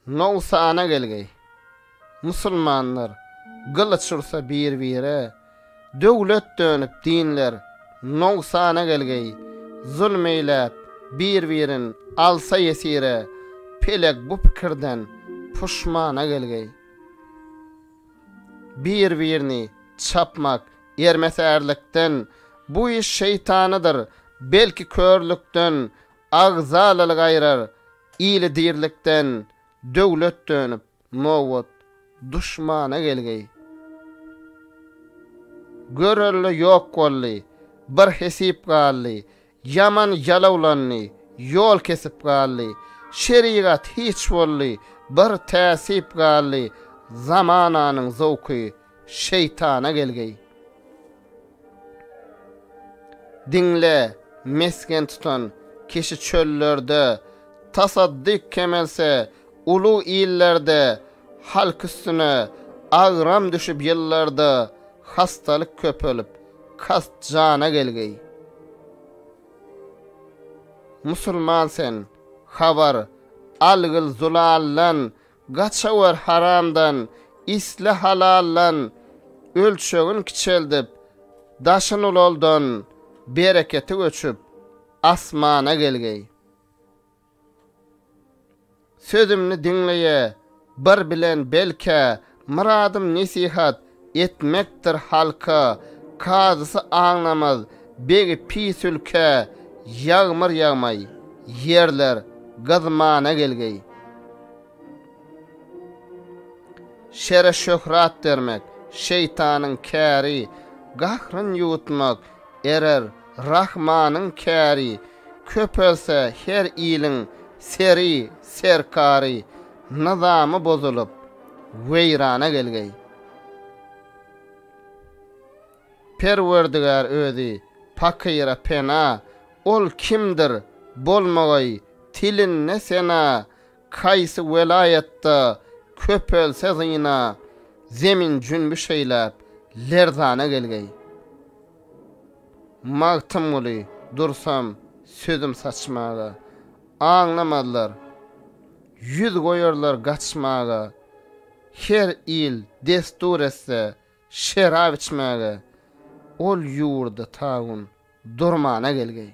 Nowsana gelgeý. Musulmanlar gylyç ursa bir-bire, Döwlet dönüp dinler nowsana gelgeý. Zulm eýläp bir-birin alsa ýesire, Pelek bu pikirden puşmana gelgeý. bir-birini çapmak, ýermesärlikden, bu iş şeýtanydyr, belki körlükden, agzalalyk aýrar, ili dirlikden, döwlet dönüp, nobat, duşmana gelgeý. Görelde ýok boldy, bir hesip galdy, Ýaman jalawlandy, ýol kesip galdy, Şerigat hiç boldy, bir täsip galdy, Zamananyň zowky, şeýtana gelgeý. Diňle, mesgen tutan kişi çöllerde, Tasaddyk kemelse, Uly illerde halk üstüne agram düşüp ýyllarda hastalyk köpelip kast jana gelgeý. Musulman sen habar algyl zulaldan gaçawer haramdan isle halaldan ölçegin kiçeldip daşyn ulaldan bereketi göçüp asmana gelgeý. Sözümni diňleýä bir bilen belkä myradym nesihat etmekdir halka kazysy aňnamaz begi pis ülkä ýagmyr ýagmaý ýerler gyzmana gelgeý şere şöhrat bermek şeýtanyň käri gahryn ýuwutmak erer rahmanyň käri Köpelse her iliň seri, serkary, nyzamy bozulyp, weýrana gelgeý. Perwerdigär özi pakyra pena, ol kimdir, bolmagaý, tilinde sena, kaýsy welaýatda köpelse zyna, zemin jünbi şeýläp, lerzana gelgeý. Magtymguly dursam sözüm saçmaga, Aňlamazlar, ýüz goýarlar gaçmaga. Her il destur etse şerap içmäge, Ol ýurda tagun durmana gelgeý.